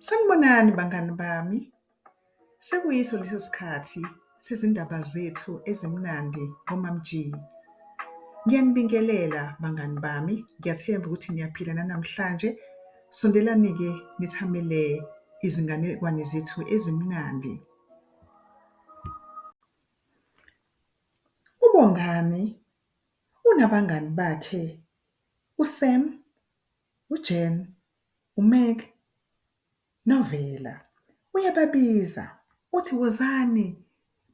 Sanibonani bangani bami, sekuyiso leso sikhathi sezindaba zethu ezimnandi ngoMamG. Ngiyanibingelela bangani bami, ngiyathemba ukuthi niyaphila nanamhlanje. Sondelani-ke nithamele izinganekwane zethu ezimnandi. UBongani unabangani bakhe uSam uJean, uMeg, noVela. Uyababiza, uthi, Wozani,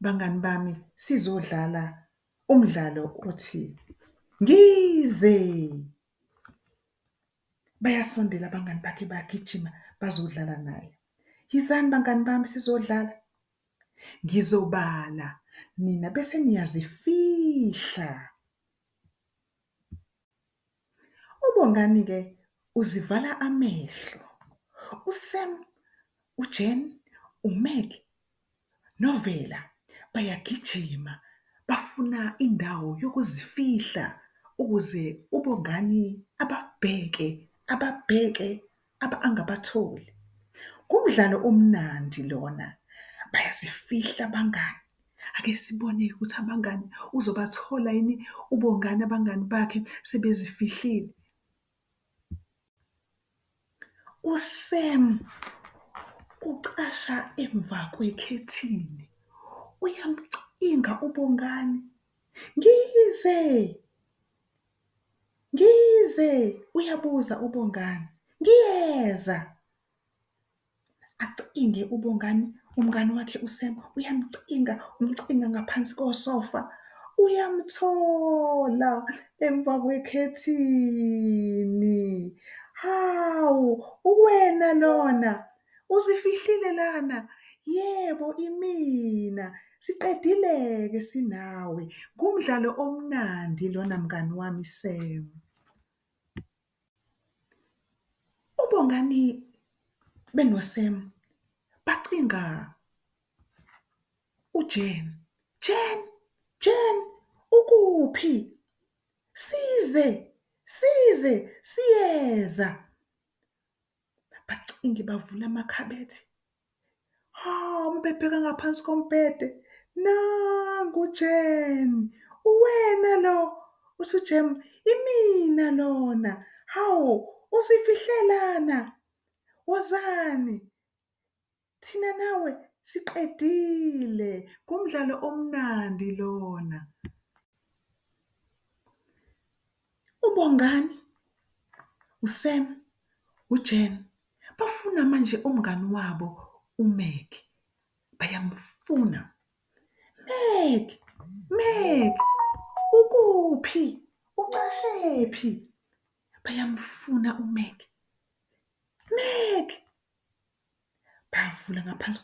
bangani bami, sizodlala umdlalo othi Ngize! Bayasondela abangani bakhe bagijima bazodlala naye. Yizani bangani bami sizodlala. Ngizobala nina bese niyazifihla. UBongani ke uzivala amehlo, uSam, uJan, uMag noVela bayagijima bafuna indawo yokuzifihla ukuze uBongani ababheke ababheke abangabatholi. Ngumdlalo omnandi lona bayazifihla abangani ake sibone-ke ukuthi abangani uzobathola yini uBongani abangani bakhe sebezifihlile. USam ucasha emva kwekhethini uyamcinga uBongani, ngize. Ngize! uyabuza uBongani. Ngiyeza! acinge uBongani umngani wakhe uSam uyamcinga umcinga ngaphansi kosofa uyamthola emva kwekhethini. Hawu uwena lona? Uzifihlile lana? Yebo, imina. Siqedile-ke sinawe. Ngumdlalo omnandi lona mngani wami Sam. UBongani benoSam bacinga uJane. Jane, Jane, ukuphi? Size, size, siyeza. bacinge bavula amakhabethe. Hhawu uma bebheka ngaphansi kombhede, nangu uJan. Uwena lo? Uthi uJan. Imina lona. Hawu, uzifihle lana. Wozani. Thina nawe siqedile ngumdlalo omnandi lona. UBongani, uSam, uJen bafuna manje umngani wabo uMeg. Bayamfuna. Meg! Meg! Ukuphi? Ucashephi? Bayamfuna uMeg. Meg! Bavula ngaphansi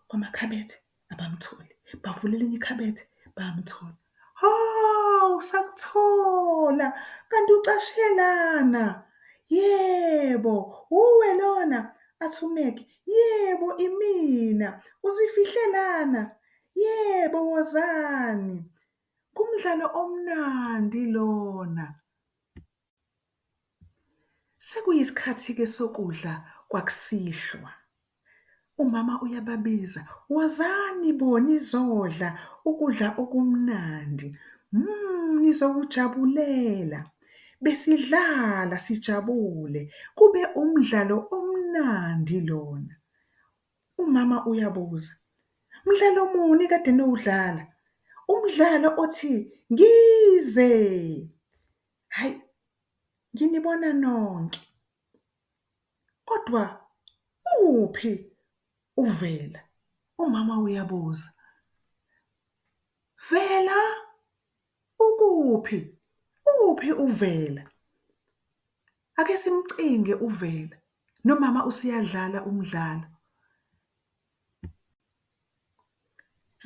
kwamakhabethe abamtholi, bavula elinye ikhabethe bamthola. Hhawu sakuthola kanti ucashe lana, yebo uwe lona? Athi uMac, yebo imina. Uzifihle lana? Yebo wozani, kumdlalo omnandi lona. Sekuyisikhathi-ke sokudla kwakusihlwa. Umama uyababiza, Wozani bo nizodla ukudla okumnandi. Mhmm nizokujabulela. Besidlala sijabule, kube umdlalo omnandi lona. Umama uyabuza, Mdlalo muni ekade niwudlala? Umdlalo othi, Ngize! Hhayi, nginibona nonke. Kodwa uphi uVela? umama uyabuza. Vela! Ukuphi? Uphi uVela? Ake simcinge uVela, nomama useyadlala umdlalo.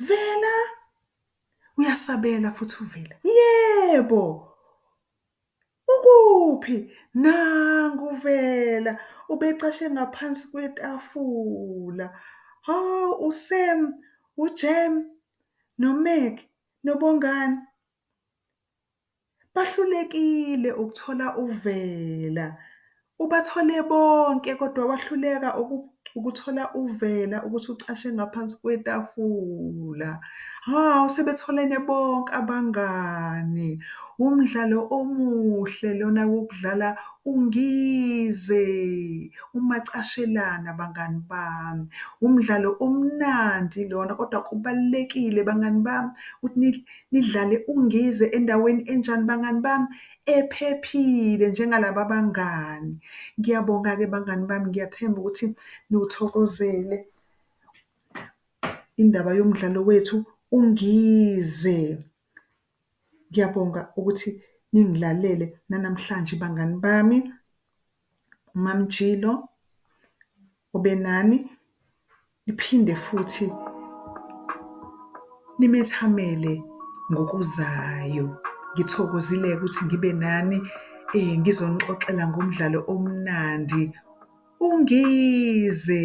Vela! Uyasabela futhi uVela. Yebo! Ukuphi? Nangu uVela, ubecashe ngaphansi kwetafula. Hhawu, uSam, uJam noMac noBongani? Bahlulekile ukuthola uvela, ubathole bonke kodwa wahluleka ukuthola uvela ukuthi ucashe ngaphansi kwetafula. Hhawu sebetholene bonke abangani, wumdlalo omuhle lona wokudlala uNgize umacashelana bangani bami. Wumdlalo omnandi lona kodwa kubalulekile bangani bami ukuthi . Nidlale uNgize endaweni enjani bangani bami? Ephephile njengalaba bangani. Ngiyabonga-ke bangani bami, ngiyathemba ukuthi niwuthokozele indaba yomdlalo wethu uNgize. Ngiyabonga ukuthi ningilalele nanamhlanje bangani bami. uMaMjilo obenani niphinde futhi nimethamele ngokuzayo. Ngithokozile-ke ukuthi ngibe nani ngizonixoxela ngomdlalo omnandi uNgize.